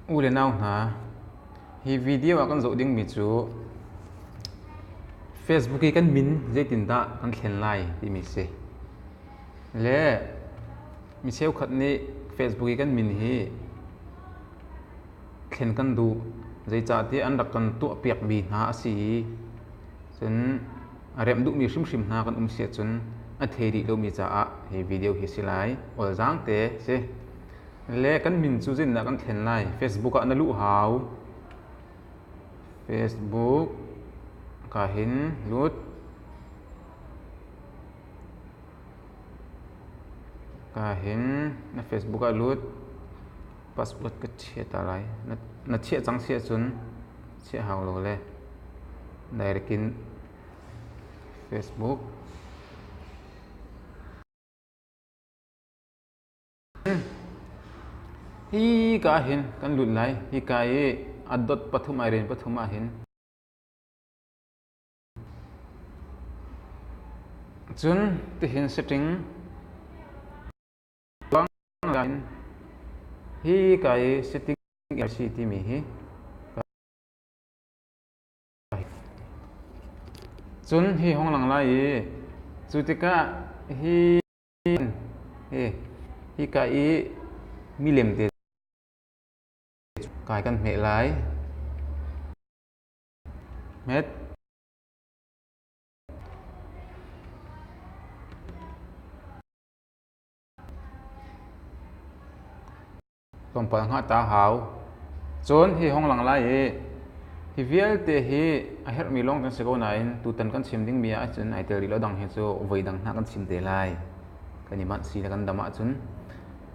U le nau hna, hi video ah kan zoh dingmi cu Facebook i kan min zeitindah kan thlen lai timi si. Le mi cheukhat nih Facebook i kan min hi thlen kan duh. Zeicahtiah an rak kan tuahpiakmi hna a si i, cun A remh duhmi hrimhrim hna kan um si ahcun a thei rih lomi caah hi video hi si lai. Awlzaang te si. Le kan min cu zinnak kan thlen lai. Facebook ah na luh hau. Facebook ka hin lut. Ka hin na Facebook ah lut. Password ka chia ta lai. Na, na chiah cang si ahcun chiahanglo le nairkin Facebook hi ka hin kan lut lai hi ka i adot pathum ai rin pathum ah hin cun tihin setting Banglain hi ka i sitting in a si timi hi ka hei fiang. Cun hi hong lang lai i cu tikah hi hi hi ka i milem te kai kan hmeh lai. Hmet. Tlawmpal hngahta a hau. Cun hi hong lang lai i hi vialte hi a herhmi lawng kan si ko nain tutan kan chim dingmi ahcun ai tel rih lo dang hi cu voi dang hna kan chim te lai. Kan i manh si le kan dam ahcun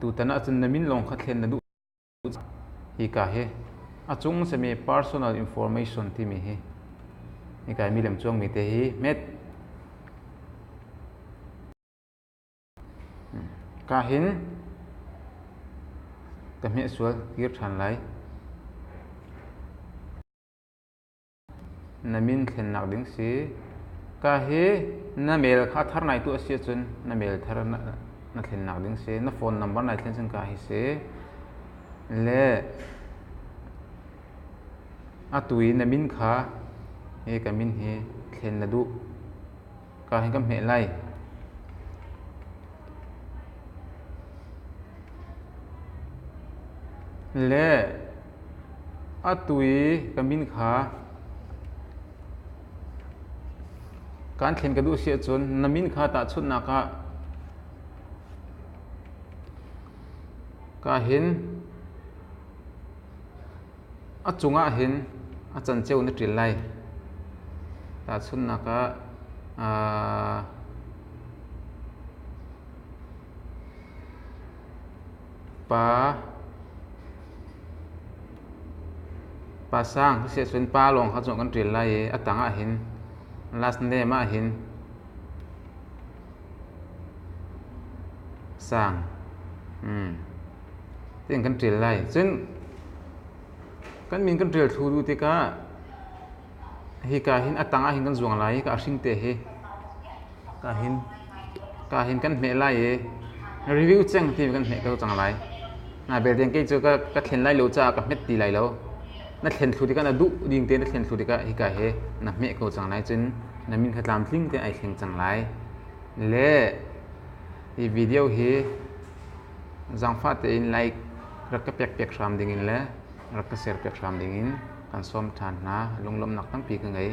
tutan ahcun na min lawng kha thlen na duh cang. Hika hi a cung simi personal information timi hi hika i mi lemcuangmi te hi hmet. Ka hin ka hmehsual kir ṭhan lai. Na min thlennak ding si. Ka hi na mail kha a thar nai tu a si ahcun na mail thar na thlennak ding si. Na phone number nai thlen cun ka hi si. Le atu i na min kha hi ka min hi thlen na duh. Ka hi kan hmeh lai. Le atu i ka min kha kaan thlen ka duh si ahcun na min kha tahchunhnak ah ka hin A cungah hin a canceo na ṭil lai. Tahchunhnak ah, pa, pa sang siahcun pa lawng kha cu kan ṭil lai i a tangah hin last name ah hin sang mm ting kan ṭial lai cun kan min kan ṭial thlu du tikah hika hin a tang ahhin kan zuang lai i ka hring te hi ka hin ka hin kan hmeh lai i review ceng ti kan hmeh ko cang lai na belte kei cu ka ka thlen lai lo caah ka hmet ti lai lo na thlen thlu tikah na duh ding te na thlen thlu tikah hika hi na hmeh ko cang lai cun na min kha tlamtling te ai thleng cang lai le hi video hi zangfah tein like rak ka pek pek hram ding in le rak ka share pek hram ding in kan sawm than hna lunglomnak tampi ka ngei